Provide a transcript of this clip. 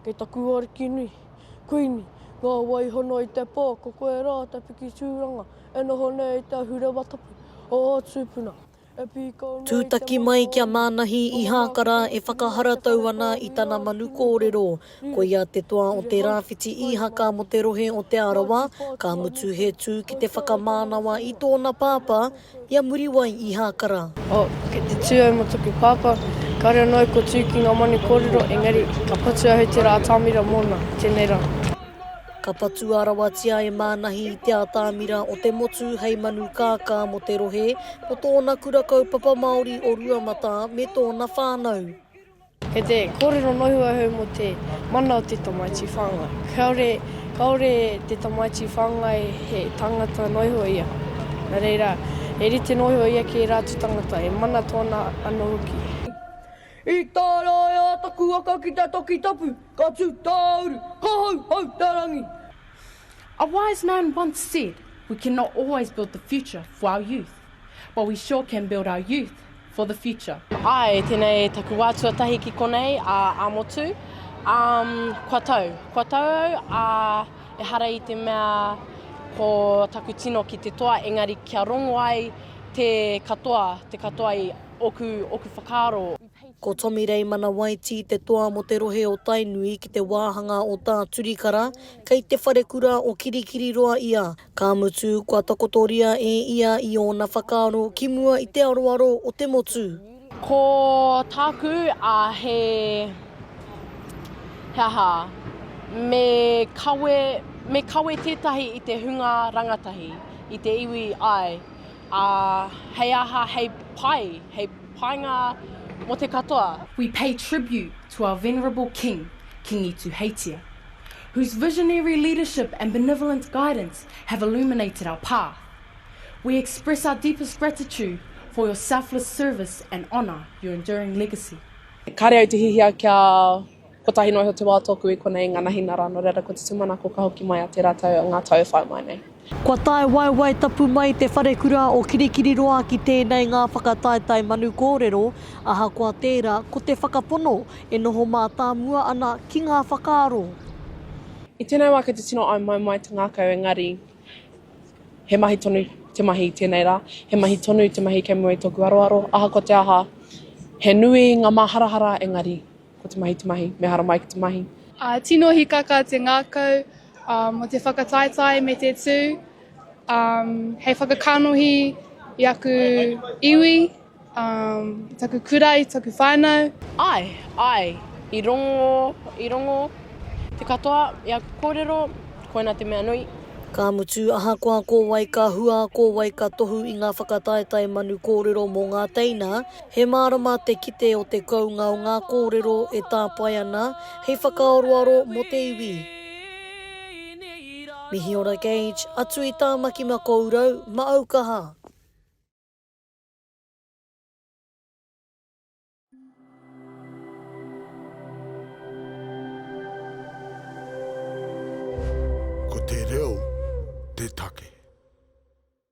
Kei taku ariki nui, Kuini, ngā waihono i te pō, ko koe rā te piki tūranga e noho nei i te ahurewa tapu o ō tūpuna. E pīkau noa i te manu o ō tūpuna. Tūtaki mai kia mānahi i Hākara e whakaharatau ana i tana manu kōrero. Koia te toa o te rāwhiti īhaka mō te rohe o Te Arawa, ka mutu he tū ki te whakamānawa i tōna pāpā, I a Muriwai i Hākara. Oh, kei te tū au mō taku pāpā. Kāore anō au kua tū ki ngā manu kōrero, engari, ka patu au hei te rā atamira mōna. Tēnei rā. Ka patua rawatia e Mānahi te atamira o te motu hei manu kākā mō te rohe, mō tōna kura kaupapa Māori o Ruamatā me tōna whānau. Kei te kōrero nohu ahau mō te mana o te tamaiti whāngai. Kāore, kāore te tamaiti whāngai he tāngata noihua ia. Nā reira, he rite noihua ia ki ērā atu tāngata, e mana tōna anō hoki. I tārae a taku waka ki te toki tapu, ka tū tāuru, ka hau hau te rangi. A wise man once said, We cannot always build the future for our youth. But we sure can build our youth for the future. Ae, tenei taku wa tuatahi ki konei, a Amotu. Um, kua tau, kua tau au, a ehara i te mea ko taku tino ki te toa, engari kia rongo ai te katoa, te katoa i oku, oku whakaaro. Ko Tommy Reimana Waitī te toa mo te rohe o Tainui ki te wāhanga o Tāturikara, kei te wharekura o Kirikiriroa ia. Ka mutu, kua takotoria e ia i ōna whakaaro ki mua i te aroaro o te motu. Ko tāku, ā, he, he aha, me kawe, me kawe tētahi i te hunga rangatahi, i te iwi, āe, ā, hei aha, hei pai, hei painga mō te katoa. We pay tribute to our venerable King, Kingi Tuheitia. whose visionary leadership and benevolent guidance have illuminated our path, we express our deepest gratitude for your selfless service and honour your enduring legacy. Kāre au te hihia kia kotahi noa iho te wā tōku i konei i ngā nahi nā Rānō Reira ko te tūmanako ka hoki mai a tērā tau, ngā tau e whai mai nei. Kua tae waewae tapu mai Te Wharekura o Kirikiriroa ki tēnei ngā whakataetae manu kōrero, ahakoa tērā, ko te whakapono e noho mātāmua ana ki ngā whakaaro. I tēnei wā kei te tino aumaumae te ngākau engari he mahi tonu te mahi i tēnei rā, he mahi tonu te mahi kei mua i tōku aroaro, ahakoa te aha, he nui ngā māharahara engari Ko te mahi te mahi, me hara mai ki te mahi. A, tino hikaka te ngakau um, o te whakataetae me te tū um, hei whakakanohi i aku iwi, um, taku kura, i taku whānau. Ai, ai, i rongo, i rongo te katoa i aku kōrero, koina te mea nui. Ka mutu, ahakoa ko wai ka hua, ko wai ka tohu i ngā whakataetae manu kōrero mō ngā teina, He mārama te kite o te kounga o ngā kōrero e tāpae ana hei whakaaroaro mō te iwi. Mihi ora Gage, atu i Tāmaki Makourau, Maaukaha. Ko te reo te take.